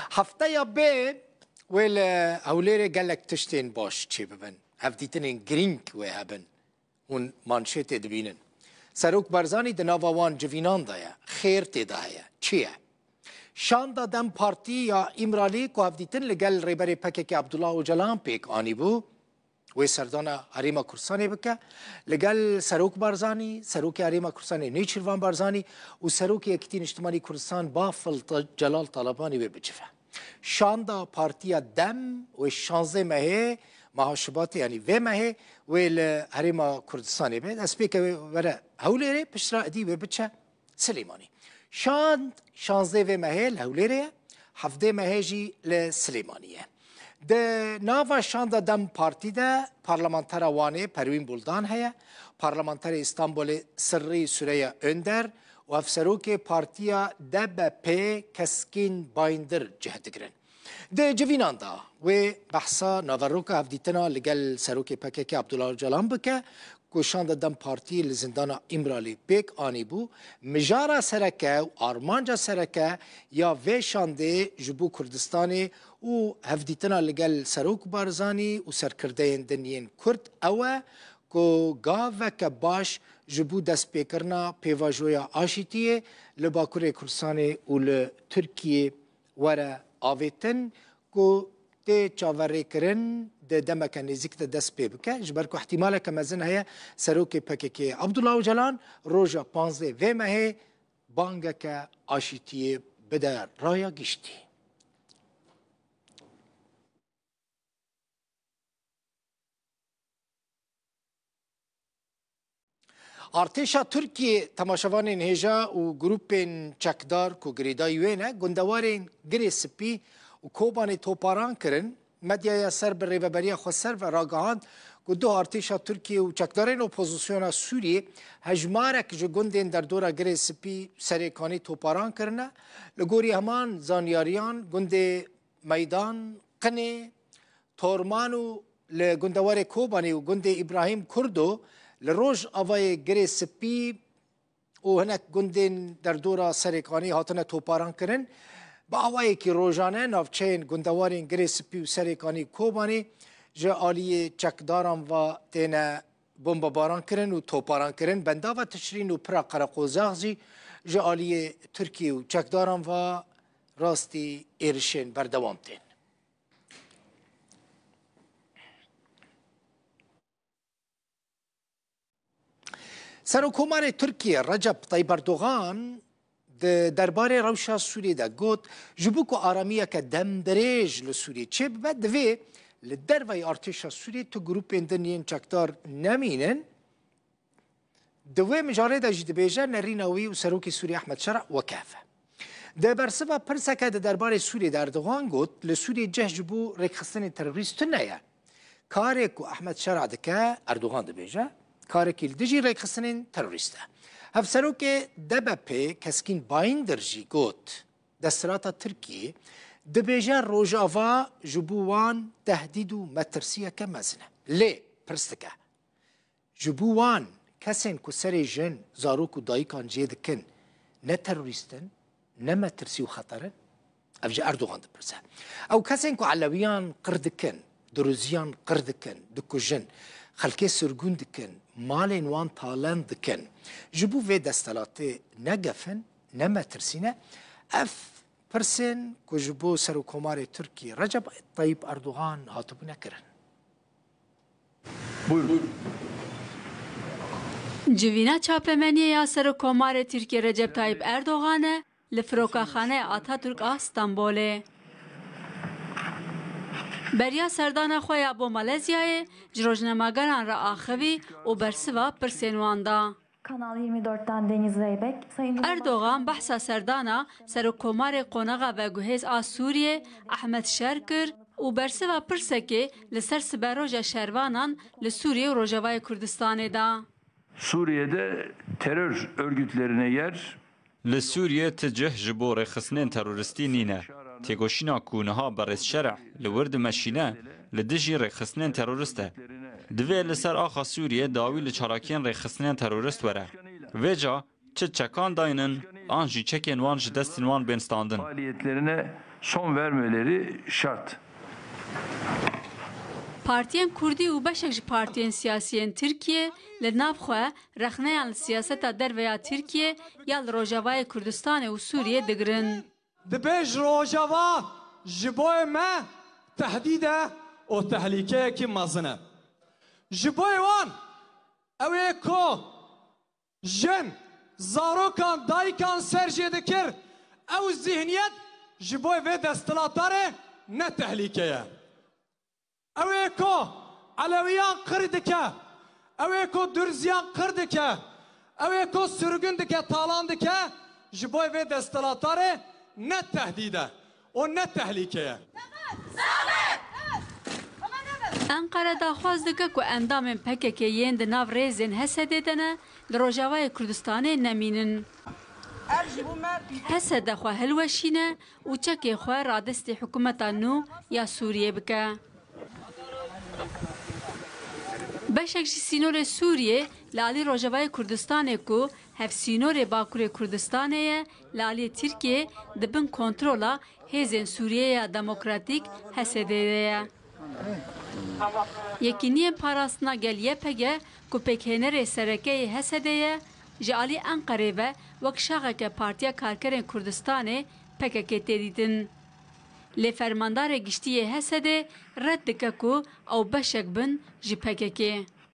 Hefteya bê wê li Hewlêrê gelek tiştên baş çê bibin. Hevdîtinên girîng wê hebin. Hûn manşêtê dibînin. Serok Barzanî di nava wan civînan de ye. Xêr tê de heye. Çi ye? Şanda dem Partî ya Îmralî ku hevdîtin li gel Rêberê PKK'ê Abdullah Ocalan pêk anîbû, Wê serdana Herêma Kurdistanê bike li gel Serok Barzanî, Serokê Herêma Kurdistanê Nêçîrvan Barzanî û Serokê Yekîtî Niştimanî Kurdistan Bafil Celal Talabanî wê bicive. Şanda Partiya Dem wê şanzdeh mehê meha Şubatê yanî vê mehê wê li Herêma Kurdistanê be destpêkeve were Hewlêrê piştra edî wê biçe Silêmanî. Şand şazdeh vê mehê li Hewlêrê ye, hevdeh mehê jî li Silêmanî ye. Di nava şanda dem partî de parlamentera Wanê Perwîn Buldan heye, parlamenterê Îstanbulê Sirrî Sureya Önder û hevserokê partiya DBP'ê Keskîn Bayndir cih digirin. Di civînan de wê behsa naveroka hevdîtina li gel serokê PKK'ê Abdullah Ocalan bike ku şanda dem partî li zindana Îmralî pêk anîbû, mijara sereke û armanca sereke ya vê şandê ji bo Kurdistanê û hevdîtina li gel Serok Barzanî û serkirdeyên din yên Kurd ew e ku gaveke baş ji bo destpêkirina pêvajoya aşîtiyê li Bakurê Kurdistanê û li Tirkiyê Were avêtin ku tê çaverêkirin di demeke nêzîk de dest pê bike, ji ber ku îhtîmaleke mezin heye serokê PKK'ê Abdullah Ocalan roja panzdeh vê mehê bangeke aşîtiyê bide raya giştî. Artêşa Tirkiyê temaşevanên hêja û grûpên çekdar ku girêdayî wê ne, gundewarên Girê Sipî û Kobanê toparan kirin. Medyaya ser bi rêveberiya Xweser ve ragihand ku duh artêşa Tirkiyê û çekdarên opozisyona Sûriyê hejmarek ji gundên derdora Girê Sipî Serêkanî toparan kirine. Li gorî heman zanyariyan gundê Meydan, Qinê, Torman û li gundewarê Kobanî û gundê Îbrahîm Kurdo li roj avayê Girê Sipî û hinek gundên derdora Serêkanî hatine toparan kirin. Bi awayekî rojane navçeyên gundewarên Girê Sipî û Serêkanî Kobanî ji aliyê çekdaran ve têne Bombebarankirin û toparankirin bendava Tişrîn û pira Qereqozax jî ji aliyê Tirkiyê û çekdaran ve rastî êrişên berdewam tên. Serokomarê Tirkiyê Recep Tayib Erdogan Di derbarê rewşa Sûriyê de got, Ji bo ku aramiyeke demdirêj li Sûriyê çêbibe divê li derveyî artêşa Sûriyê tu grûpên din yên çekdar nemînin. Di wê mijarê de jî dibêje nerîna wî û Serokê Sûriyê Ehmed Şera wekefe. Di bersiva pirseke di derbarê Sûriyê de Erdogan got, Li Sûriyê cih ji bo rêkxistinên terorîst tune ye. Karê ku Ehmed Şera dike, Erdogan dibêje, karekî li dijî rêkxistinên terorîst e. Hevserokê DBP Keskîn Bayindir jî got, desthilata Tirkiyê dibêje Rojava ji bo wan tehdîd û metirsiyeke mezin e. Lê pirs dike, Ji bo wan, kesên ku serê jin, zarok û dayikan cê dikin ne terorîst in, ne metirsî û xeter in? Ev ji Erdogan dipirse. Ew kesên ku elewiyan qir dikin, duruziyan qir dikin, dikujin, xelkê sirgûn dikin, malên wan talend dikin, ji bo vê desthilatê ne gef in, ne metirsî ne? Ev pirsên ku ji bo Serokkomarê Tirkiyê Recep Tayyîp Erdogan hatibûne kirin. Civîna çapemeniyê ya Serokkomarê Tirkiyê Recep Tayyîp Erdogan e li Firokaxaneya Ataturk a Stenbolê. Beriya serdana xwe ya bo Malezyayê ji rojnemageran re axivî û bersiva pirsên wan da. Kanal yirmi dört dan Deniz Reybek, Sayın Erdogan behsa serdana Serokkomarê Qonaxa Veguhêz a Sûriyê Ehmed Şer kir û bersiva pirsekê li ser siberoja şervanan li Sûriyê û Rojavayê Kurdistanê da. Suriye'de terör örgütlerine yer. Li Sûriyê ti cih ji bo rêxistinên teroristî nîne. Têkoşîna ku niha berêz Şereh li wir dimeşîne li dijî rêxistinên terorist e. Divê li ser axa Sûriyê dawî li çalakiyên rêxistinên terorist were. Vê ca çi çekan dayînin an jî çekên wan ji destên wan bên standin. Partiyên Kurdî û beşek ji partiyên siyasî yên Tirkiyê li nav xwe Rexneyan li siyaseta derve ya Tirkiyê ya li Rojavayê Kurdistanê û Sûriyê digirin. Dibe ji Rojava ji bo me tehdîd e û tehlîkeyekî mezin e. Ji bo wan ew ê ku jin, zarokan, dayikan ser jê dikir, ew zîhniyet ji bo vê desthilatarê ne tehlîke ye. Ew ê ku Elewiyan qir dike, ew ê ku Durziyan qir dike, ew ê ku sirgûn dike, talan dike, ji bo vê desthilatarê ne tehdîd e û ne tehlîke ye. Enqere daxwaz dike ku endamên pkk yên di nav rêzên Hesedê de ne, li Rojavayê Kurdistanê nemînin. Hesede xwe hilweşîne û çekê xwe radestî hikûmeta nû ya Sûriyê bike. Beşek ji sînorê Sûriyê li alî rojevayê Kurdistanê ku hevsînorê Bakurê Kurdistanê ye li aliyê Tirkiyê di bin kontrola Hêzên Sûriyeya Demokratîk, HSD, de ye. Yekîniyên Parastina Gel-YPG ku pêkhênerê sereke yê HSD'ê ye, Ji alî Enqerê ve wek şaxeke Partiya Karkerên Kurdistanê, pkk, tê dîtin. Lê Fermandarê Giştî yê Hesedê red dike ku ew beşek bin ji pkk.